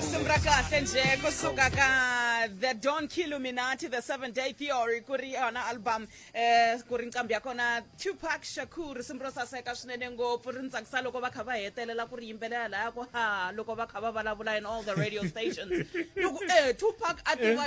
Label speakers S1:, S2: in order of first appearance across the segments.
S1: sembra
S2: kahle nje kusuka ka the don killuminati the seven day theory ku ri yona album eh ku ri nqambi ya kona tupac shakur simu ro saseka swinene ngopfu ri ni tsakisa loko va kha va hetelela ku ri yimbelela laya ku ha loko va kha va vulavula in all the radio stations loko eh tupac a tiva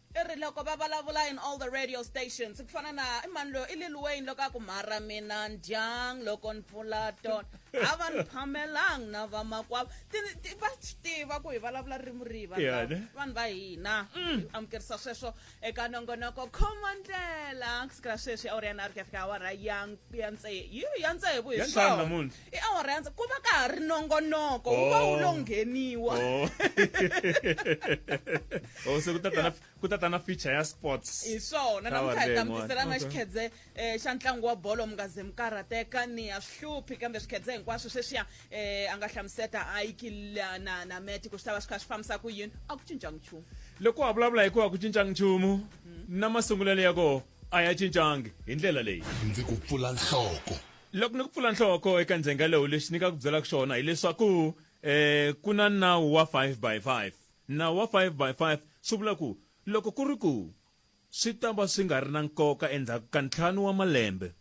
S3: i ri loko va
S2: vulavula in all the radio stations ku fana na i mani loyo i lil wayne loko a ku mhara mina ndyang loko ni pfula tona a va ni phamelangi na vamakwavo va swi tiva ku hi vulavula ririmi rihi vanhu va hina mm. amukerisa sweswo eka nongonoko khoma ndlela siku ra sweswi awuri ya nharhu ku ya fika awara ya ya tsevu hi swona i awara ya ndzi ku va ka ha ri nongonoko wu va wu lo Oh. ngheniwa
S3: Oh. oh se ku ta ta na ku ta ta na feature ya sports hi swona Ka namuntlha hi ta
S2: Warren, mi tisela na okay. xikhedze um xa ntlangu wa bolo mi nga ze mi karhateka ni ya swi hluphi kambe swikhedze hinkwaswo sweswiya um a nga hlamuseta ayiki la- na na meti ku swi ta va swi kha swi fambisa ku yini a ku cincanga nchumu loko wa vulavula hikuva
S3: ku cincanga nchumu na masungulelo ya kona a ya cincangi hi ndlela leyi ndzi ku pfula
S1: nhloko Loko ni ku pfula
S3: nhloko eka ndzhenga lowu lexi ni nga ku byelaka xona hileswaku um ku na nawu wa five by five nawu wa five by five swi vula ku loko ku ri ku swi ta va swi nga ri na nkoka endzhaku ka ntlhanu wa malembe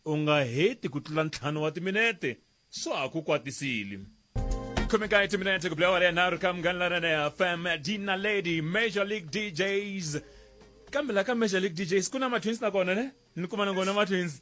S3: u nga heti ku tlula ntlhanu wa timinete swa ha ku kwatisile khomekayi timinete ku bilawa renharhu ka munghana laranene ya fm dina lady major league djs kambe la ka major league djs ku na matwins na kona ne ni kuma na kona matwins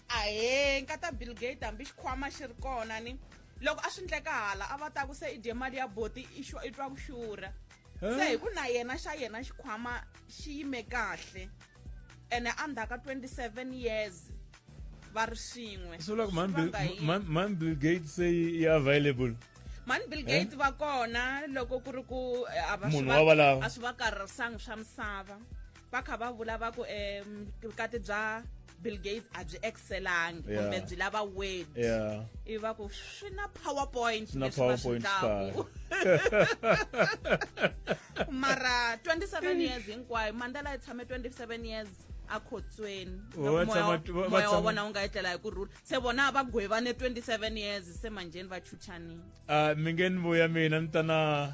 S3: ahee nkata
S2: bill gate hambi xikhwama xi ri kona ni loko a swi ndleka hala a va ta ku se i dye mali ya boti i twa ku xurha se hi ku na yena xa yena xikhwama xi yime kahle ene a ndzhaka 27 years va ri swin'we swi vula ku
S3: man bill gate se yi available mani bill eh?
S2: gate va kona loko ku ri ku eh, a
S3: swi va karharisangi swa
S2: misava va kha va vula va ku um vukati bya bill gates a byi excelangi kumbe byi lava word ivi va ku swi na powerpoint leswi va swi tlaku mara 27 years hinkwayo mandela yi tshame 27 years akhotsweni moya wa vona wu nga etlela hi ku rhula se vona va gwevane 27 years se manjheni va chuchanile uh, mi nge ni
S3: vuya mina ni ta na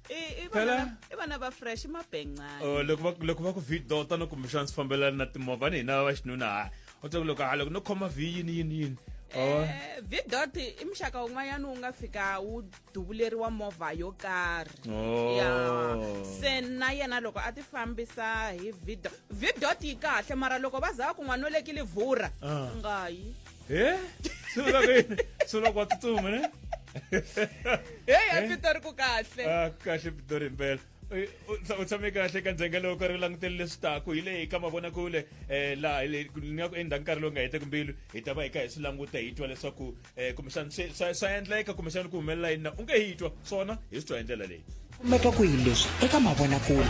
S3: i vana
S2: i vana va fresh mabengcani oh loko va loko va ku
S3: vhi dota no kumbexana swi fambelana na timovha ni hina va xinuna ha u twa ku loko ha loko no khoma vhi yini yini yini oh. eh,
S2: vidot i muxaka wun'wanyana wu nga fika wu duvuleriwa movha yo karhi oh. ya se na yena loko a ti fambisa hi vidot vidot yi kahle mara loko va za va ku n'wanolekile vhura ah. nga yi Eh? Sula kwini?
S3: Sula kwa tsutsuma ne? heyi
S2: a pitori ku
S3: kahle Ah, kahle
S2: Pitori
S3: impela. Eh, u- u tshame kahle ka ndzhenga lowu karhi u langutele leswi taku hi leyi ka mavonakule eh laha hi le- ku- ni nga ku endla nkarhi lowu nga heteki mbilu hi ta va hi kha hi swi languta hi twa leswaku eh kumbexana swi- swa swa endleka kumbexana ku humelela yini na u nge hi twa swona hi swi twa hi ndlela leyi kumeka kwihi leswi
S4: eka mavonakule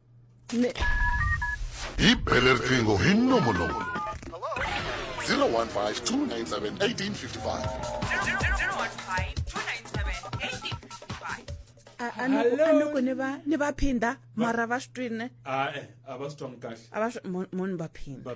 S5: Ne
S6: hi bele riqingho hi nomo lowu 015 ni
S2: va ni va phinda mara va swi twini a va swi
S3: twanga kahle a va swi munhu
S2: va phinda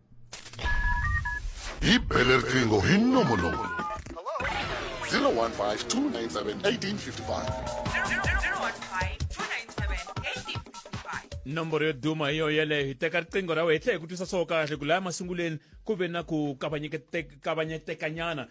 S5: hi
S6: bele riqingho hi nomo lowu 015 297 1855 nomboro yo duma
S3: hi yoho yeleyo hi teka riqingho ra wena hi tlhe hi ku twisa swo kahle ku laya masunguleni ku ve na ku kavanyetekanyana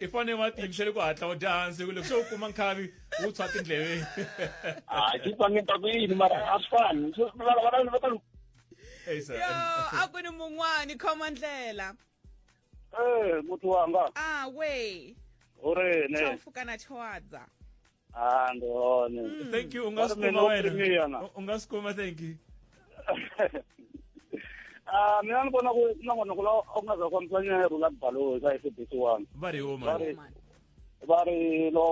S3: i fane va tiyimisele ku hatla u dya hansi ku loko se u kuma nkhavi wu tshwa tindleveni a xi
S7: twange ta ku yini mara a swi fani
S3: a ku ni
S2: mun'wani khoma ndlela ee
S7: eh, muti wanga a we
S2: u ri ne
S7: chofukana chowadza
S2: Ah, ndi
S7: hone. thank you u nga Ba
S3: swi mina kuma u wena pfuniwa yona. U- u
S7: nga swi kuma thank
S3: you
S7: Ah, mina ni vona ku na n'wana ku la a ku nga za fambisa nyero la baloyi ka SABC one. va ri huma Sorry.
S3: Woman. Va ri
S7: lo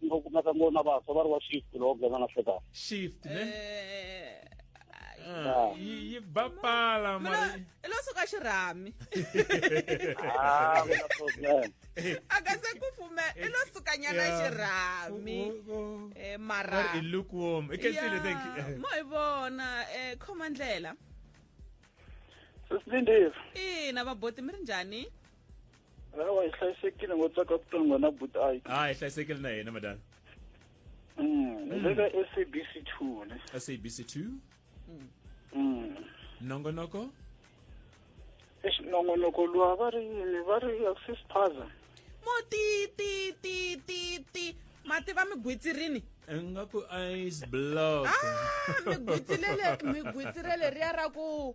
S7: ngo kumeka ngo na vantshwa va ri wa shift lo gana na feta. shift ne
S3: Eh,
S2: Ah, yi yi ba
S3: pala mara mina lo
S2: suka
S3: xirhami
S2: Ah,
S7: ku na problem.
S2: akasekufume i lo sukanyana xirhami um
S3: eh, maramo hi vona
S2: um khoma ndlela
S7: sisilindile ina vaboti
S2: mi ri njhani awa
S7: hi hlayisekile ngo tsaka ku tonga na buti a ah, hi hlayisekile na hina
S3: madam mm, ni le ka
S7: sabc two ne sabc two Mm. nongonoko
S3: Eish,
S7: nongonoko luwa va ri yini va ri sispaza mo ti
S2: ti ti ti ti mati va mi gwitsirini ingaku
S3: ice block Ah, mi gwitsirele
S2: mi gwitsirele riya ra ku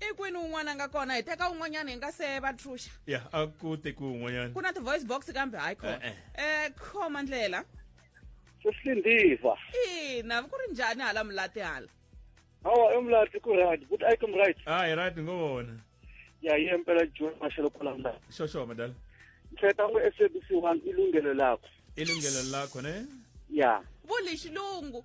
S2: i kwini un'wana a nga kona hi teka un'wanyana hi nga se va truxa ya a ku
S3: tekiwe un'wanyana ku na ti-voice box
S2: kambe hayi khoma Eh, eh. um khoma ndlela sesindiva
S7: ina
S2: ku ri njhani hala mulati hala hawa
S7: emlati ku right but i come right a hi right ngo vona
S3: ya ye
S7: mpela joni maxelo kulamla xoxo madala
S3: ntsheta ngo
S7: sabc one ilungelo lakho ilungelo lakho
S3: ne ya vo
S7: lexilungu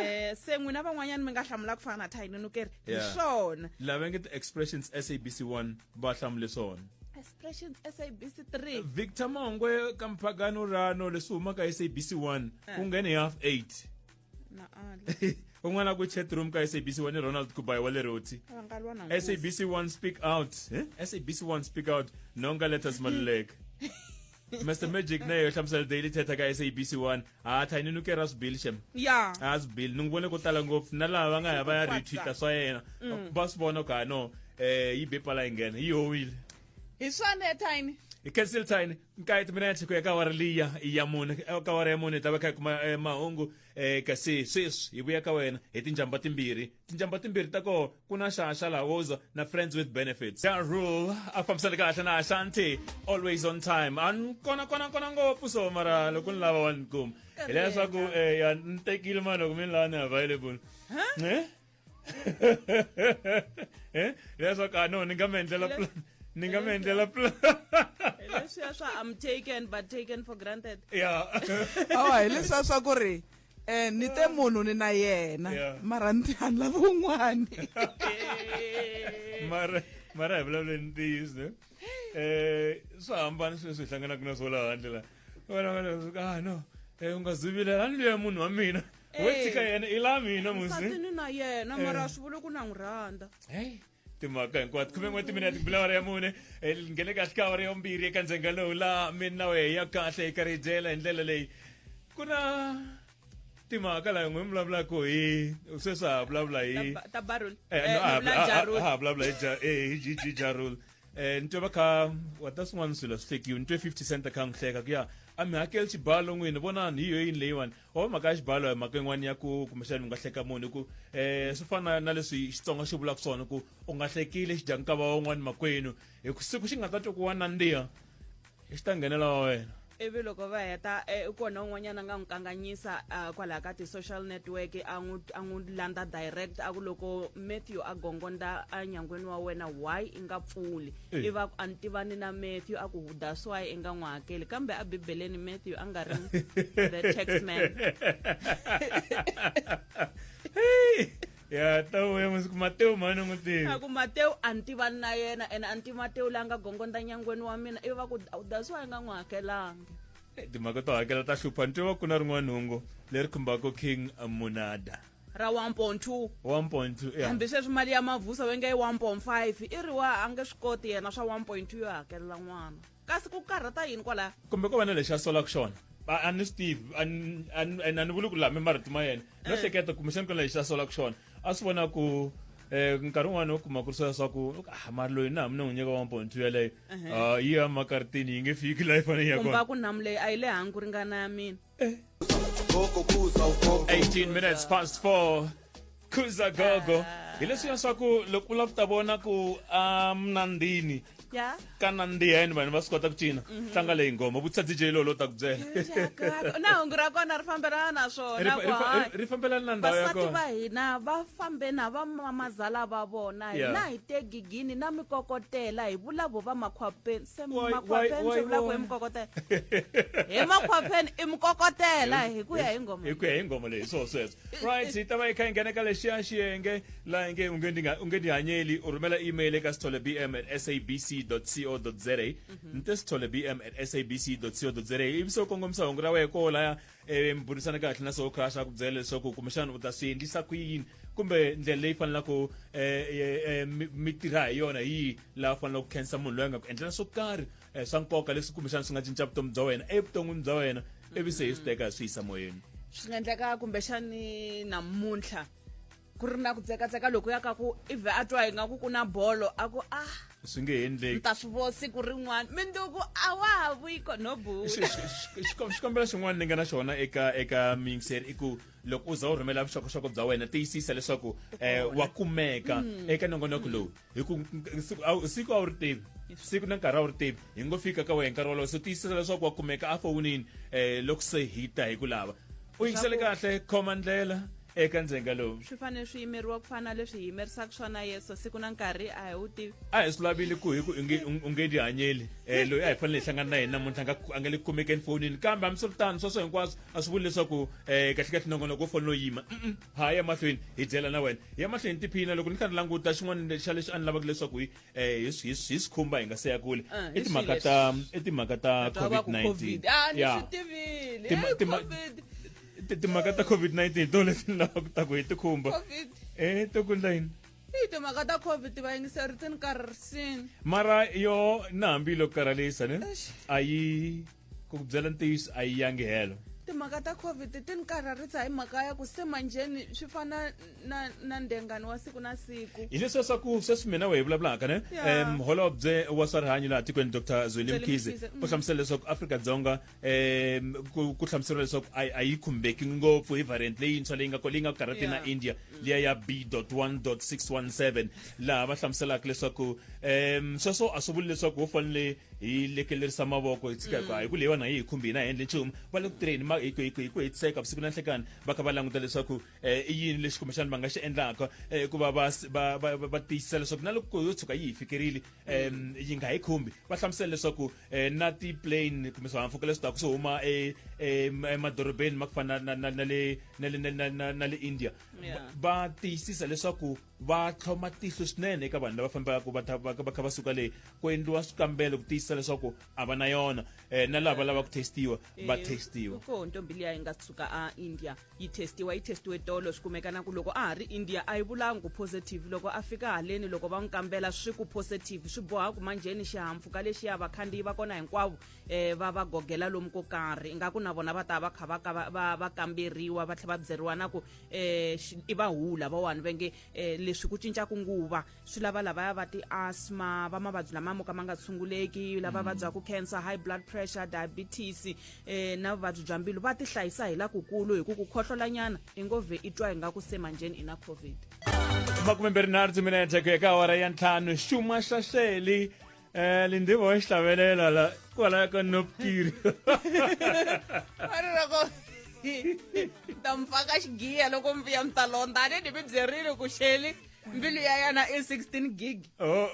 S2: eh se n'wina van'wanyana mi nga hlamula ku fana na thayini ni keri hi Yeah. swona lava nge ti-expressions
S3: sabc 1 va hlamule swona expressions
S2: sabc 3 victor mongwe
S3: ka mphagano rano leswi humaka sabc 1 Eh. ku nghene hi half 8 na ala
S2: un'wana ku chat
S3: room ka sabc 1 i ronald kubayi wa le roti va nga lwa na nkosi. sabc 1 speak out eh? sabc 1 speak out nonga letters maluleka mr magic na yo hlamusela daily thetha ka sabc one ha tha ni nukera sbill shem ya ha sbill
S2: ni n'wi vone ko
S3: tala ngopfu na lava va nga ya va ya retweeta swa yena mm. va swi vona ka no um yi be pala yi nghena yi howile hi swona
S2: etine hi cancel tine
S3: nkayiti mina ya tlhiko ya kawara liya ya mune eh, kawara ya mune hi ta va kha hi kuma eh, mahungu um kasi sweswi hi vuya ka wena hi tinjhamba timbirhi tinjambo timbirhi ta koho ku na xa xa lawoza na friends with benefits ja rule a fambisana kahle na ashanti always on time a ni kona kona kona ngopfu so mara loko ni lava wa ni kuma hileswaku um eh, ya ni tekile mani loko mi ni lava ni available eh? eh? hileswaku a ah, no ni nga mi endlela plan ni nga mi endlela plan leswiya
S2: swa i'm taken but taken for granted ya
S3: awa
S8: hileswiya swa ku ri eh ni te munhu ni na yena Yeah. mara ni tiani lava un'wani mara
S3: mara hi vulavule ni ntiyiso ne eh swa hambana swilo leswi hi hlanganaka na swo laha handle la vana vana swi ka ah no eh u nga zivilela a ni luya munhu wa mina wo Eh. tshika yena i la mina musi nsati ni na yena
S2: mara a swi vuli ku na n'wi rhandza hey timhaka
S3: hinkwato khume n'we timinete bula awara ya mune hi nghene kahle ka awara ya vumbirhi eka ndzenga lowu laha mina na wehe ya kahle hi karhidyela hi ndlela leyi ku na timhaka laha n'we mi vulavulaka hi sweswi ha vulavula hi Ta- ta barul Eh, Eh, no,
S2: ha- Mula ha- Jarul. ha-
S3: ha vulavula hi Ja- eh, hi Ji- Ji- jarul um ni twe va kha wata swin'wana swilo swi hlekiwe ni twe fifty cent a kha n'wi hleka ku ya a mi hakeli xibalo n'wini vonani hi yo yini leyiwani or mhaka ya xibalo hi mhaka yin'wana ya ku kumbexani u nga hleka munhu hi ku um swi fana na leswi xitsonga xi vulaka swona ku u nga hlekile xi dya nkava wan'wana makwenu hi ku siku xi nga ta twa ku wa nandziha xi ta nghenela wa wena ivi loko va heta
S2: eh, i kona un'wanyana a nga n'wi kanganyisa ah, kwalaha ka ti-social network a n'wi a n'wi landza direct a ku loko matthew a gongondza enyangweni wa wena why i nga pfuli Eh. iva a ni tivani na matthew a ku that's why i nga n'wi hakeli kambe a bibeleni matthew a nga ri the tax man
S3: ya tawu ya masiku mateo mhani n'wi tivi a ku mateo a ni
S2: tivani na yena ene a ni tivi mateo la nga gongonda nyangweni wa mina ivi va ku that's why a nga n'wi hakelanga eh, timhaka to
S3: hakela ta hlupha ni tiva ku na rin'wana hungu leri khumbaka king munada ra 1.2 1.2
S2: yeah. hambi sweswi mali ya mavhusa va nge i 1.5 i ri wa a nge swi koti yena swa 1.2 yo hakelela n'wana kasi ku karhata yini kwalaya kumbe ko va na lexi a solaka
S3: xona a ni swi tivi a ni vuli ku lame marito ma yena no eh. hleketa kumbexani ku na lexi a solaka xona a swi vona ku eh nkarhi un'wana u kuma ku ri swa swa ku ah, mari loyi na hambi ni n'wi nyika one point two yaleyo ah, yi ya makaritini yi nge fiki layi fanele yi ya kona ku namu leyi a yi le
S2: hangi ku ringana ya mina 18
S3: minutes past 4 khuza gogo hi leswiya swa ku loko u lava ku ta vona ku a mnandini ya
S2: ka nandihen
S3: vanhu va swi kota ku cina tlanga leyi ngoma vutisa dj loyi lo ta ku byela Jakarta. na hungu
S2: ra kona ri fambelana na Ri swona fa- ku ri fa- hayi. ri- ri fambelana
S3: na ndhawu ya vasati kona va hina va fambe
S2: na va mamazala va vona Yeah. hina hi te gigini na mikokotela hi vulavo va makhwape- makhwapheni swi vula ku hi mukokotela hi makhwapheni i mukokotela hi ku ya hi ngoma
S3: hi ku ya hi ngoma leyi swo sweswo right hi ta va yi kha yi nghena ka lexiya xiyenge laha hi nge u nge u nge ndihanyeli u rhumela email eka sithole bm at sabc co za mhm. ni te sithole bm at sabc co za ivi se u kongomisa hungu ra wehe ko laya e mburisana kahle na swo khasha ku byela leswaku kumbexana u ta swi endlisa ku yini kumbe ndlela leyi fanelaka um mi tirha hi yona hi laha fanelaka ku khensa munhu loyi a nga ku endlela swo karhi um swa nkoka leswi kumbexana swi nga cinca vutomi bya wena evuton'wini bya wena ivi se hi swi teka hi swi yisa moyeni swi nga endleka
S2: kumbexani namuntlha ku ri na ku tsekatseka loko ya ka ku ive a twa ingaku ku na bolo a ku ah swi nge endleki
S3: ta swi vo siku
S2: rin'wana minduku a wa ha vuyi kono bula xikombelo
S3: xin'wana ni nga na xona eka eka mixer i ku loko u za u rhumela vuxokoxoko bya wena tiyisisa leswaku um wa kumeka mm. eka nongonoko lowu hi ku siku a wu ri tivi siku na nkarhi a wu ri tivi hi ngo fika ka wena nkarhi wolowo so tiyisisa leswaku wa kumeka a fowunini um loko se hi ta hi ku lava u yingisele kahle khoma ndlela eka ndzenga lowu swi fanele swi yimeriwa ku
S2: fana leswi hi yimerisaka swona yeso siku na nkarhi a hi wu tivi a hi swi lavile ku hi
S3: ku u nge ti hanyeli um loyi a hi fanele hi hlangana na yena muntlha a nga le ku kumekeni fonini kambe hambiswiritano sweswo hinkwaswo a swi vuli leswaku um kahlekahle nongonoko wo fanele u yima ha ya mahlweni hi dyela na wena ya mahlweni hi tiphina loko ni karhi languta xin'wana xa leswi a ni lavaka leswaku hi eh, hi swi- hi swi- hi swi khumba hi nga se ya kule Ah, hi i timhaka swihi ta i timhaka ta Twa va ku covid-19 covid ah ni Yeah. swi tivile Tima- Hey, tima- covid Ti- timhaka ta covid-19 hi to leti ni lavaka ku ta ku hi tikhumba covid e to kundla yini hi timhaka ta
S2: covid va yingiseri ti ni karhisini mara yo
S3: na hambiloko karhalisa ne Eish. a yi ku byela ntiyiso a yi yangi helo timhaka ta covid
S2: ti ni karharisa hi mhaka ya ku se manjheni swi fana na na ndengani wa siku na siku hi leswi leswaku sweswi
S3: mina we hi vulavulaka ne Yeah. um holobye wa swa rihanyo laha tikweni dr zweli Zweli mkhize Mkhize, mm. u hlamusela leswaku afrika-dzonga um ku- ku hlamuseriwa leswaku a a yi khumbeki ngopfu hi variant leyintshwa leyi nga ko- leyi nga ku karhati na Yeah. india liya ya b dot one dot six one seven laha va hlamuselaka leswaku um sweswo a swi vuli leswaku wo fanele hi lekelerisa mavoko hi tshika hikuva hi ku leyiwani a yi hi khumbi hina hi endle nchumu va le ku tirheni ma- hi ku- hi ku- hi ku hetiseka vusiku na nhlekani va kha va languta leswaku eh, i yini lexi kumbexana va nga xi endlaka eh, hikuva va s- va- va va- va tiyisisa leswaku na loko yo tshuka yi hi fikerile em, yi nga hi khumbi va hlamusela leswaku eh, na ti-plane kumbe swihahampfhuka leswi taka swi huma e- em- emadorobeni ma ku fana na- na- na le- na le- na- na- na- na le india Yeah. va tiyisisa leswaku va tlhoma tihlo swinene eka vanhu lava fambaka va kha va suka le ku endliwa swikambelo ku tiyisisa leswaku a va na yona um na lava lava ku testiwa eh, va testiwa ko ntombi liya yi nga
S2: suka a india yi testiwa yi testiwe tolo swi kumeka na ku loko a ha ri india a yi vulangi ku positive loko a fika haleni loko va n'wi kambela swi ku positive swi boha ku manjheni xihampfhuka lexiya vakhandziyi va kona hinkwavo um va va gogela lomu ko karhi ingaku na vona va ta va kha va va kamberiwa va tlhela va byeriwa na ku eh i va hu lavawani va nge eh, leswi ku cincaku nguva swi lava lavaya va ti-asma va mavabyi lama mo ka ma nga tshunguleki lava mm. vabyaku cancer high blood pressure diabetes eh na vuvabyi bya mbilu va ti hlayisa hi lakukulu hi ku ku khohlolanyana i ngo vhe i twa hi nga ku se manjheni i na covid makume mbirhi
S3: nharhu timinete ku ya ka awara ya ntlhanu xuma xaxeli Eh, lindi bo hlabelela la kwala ka nopkiri a ri ra ko
S2: ta mi pfaka xigiya loko mi vuya mi ta londza a ni ni mi byerile ku xeli mbilu ya yana i 16 gig oh.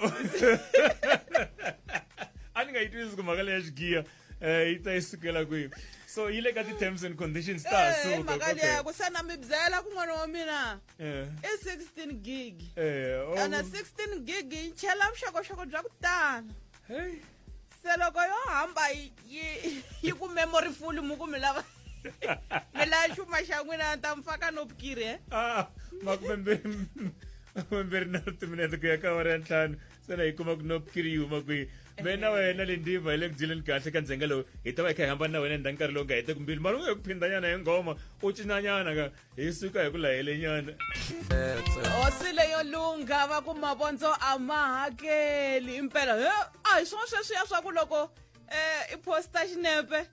S3: a ni nga yi twisisi ku mhaka leya xigiya eh yi ta yi sukela kwihi so yi le ka ti-terms and conditions ta ha Eh, suka mhaka leya ku se na
S2: mi byela ku n'wana wa mina Eh, i 16 gig eh, oh, ene 16 gig yi chela vuxokoxoko bya ku tala hey. se loko yo hamba yi- yi yi ku memory full mu ku mi lava mi lava xuma xa n'wina ni ta mi faka no bukiri e Ah, makume mbirhi
S3: makume mbirhi na ritiminete ku ya ka awara ya ntlhanu se na yi kuma ku no kiri yi huma kwihi me na wena le ndiva hi le ku dyeleni kahle ka ndzhenga lowu hi ta va hi kha hi hambana na wena ndha nkarhi lowu nga hete kumbili mara u nga hi ku phindanyana hi nghoma u cinanyana ka hi suka hi ku lahelenyana
S2: hosi leyo lungha va ku mavondzo a ma hakeli impela a hi swona sweswiya swa ku loko um i posta xinepe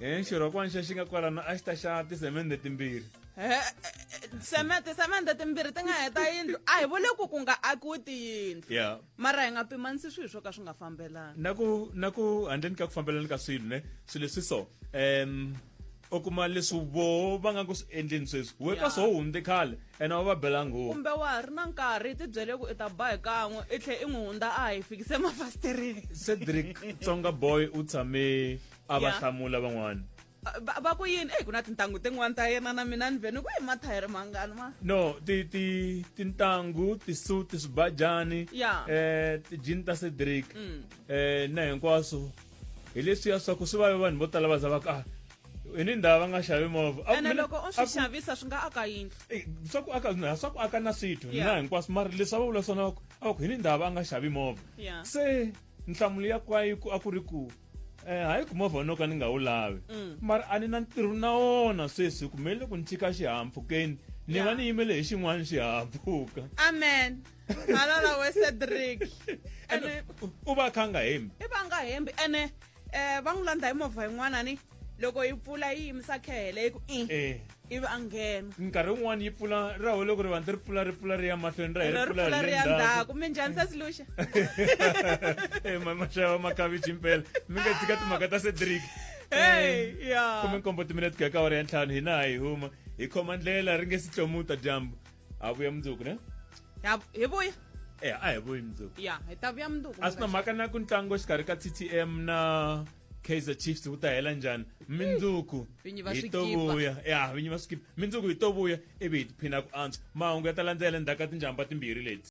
S3: Eh, xirhokwana xi nga kwalano a xi ta xa tisemende timbirhi
S2: semende semende timbirhi ti nga heta yindlu a hi vule ku ku nga akiwi tiyindlu yeah. mara hi nga
S3: pimanisi
S2: swilo swo ka swi nga fambelani na ku na ku
S3: handleni ka ku fambelani ka swilo ne swilo leswi so um u kuma leswi vo va nga ku swi endleni sweswi we ka swo hundze khale ene wa va bela nghozi kumbe wa ha ri na nkarhi
S2: ti byele ku i ta ba hi kan'we i tlhe i n'wi hundza a hi fikise mafasitereni cedric
S3: tsonga boy u tshame a va Yeah. hlamula van'wana va va ku yini
S2: eyi ku na tintangu tin'wana ta yena na mina ni ve ni ku yi mathayere mangani ma no ti ti
S3: tintangu tisuti swibajani Yeah. Mm. eh tijini ta cedric eh na hinkwaswo hi leswiya swa ku swi vave vanhu vo tala va za va ka "Ah, i ni ndhawu va nga xavi movha A ku ene mina- loko u a swi ku-
S2: xavisa swi nga aka yindlu Eh, swa ku aka na
S3: swa ku aka na swithu Yeah. na hinkwaswo mara leswi a va vula swona va ku a va ku hi ni ndhawu va nga xavi movha Yeah. se nhlamulo ya kwayiku a ku ri ku eh, hayi ku movha wa noka ni nga wu lavi Mm. mara a ni na ntirho na wona sweswi hi kumelele ku ni chika xihahampfhukeni ni Ya. va ni yimele hi xin'wana xihahampfhuka amen
S2: halala we cedric ene
S3: u va a kha a nga hembi i va nga hembi ene
S2: um va n'wi landza hi movha yin'wana ni loko yi pfula yi yimisa khehele yi ku i eh. ivi a nghena nkarhi wun'wana yi pfula
S3: ra ho loko ri vanti ri pfula ri pfula ri ya mahlweni ra ri pfula ri ya ndzhaku mi
S2: njhani se siluxa eh,
S3: maxava makavichi mpela mi nga tshika timhaka ta cedric eh, khume nkombo timinete ku ya ka wara ya ntlhanu hina a hi huma hi khoma ndlela ri nge si tlomuta dyambu a vuya mundzuku ne hi vuya
S2: e a hi vuyi
S3: mundzuku ya hi ta vuya mundzuku
S2: a swi na mhaka na ku ntlangu
S3: exikarhi ka ttm na kaizer chiefs wu ta hela njhani mindzuku Vinyi va hi swi to kipa. vuya ya vinyi va swi kipa mindzuku hi to vuya ivi hi tiphina ku antswa mahungu ya ta landzela endzhaku ka tinjhamba timbirhi leti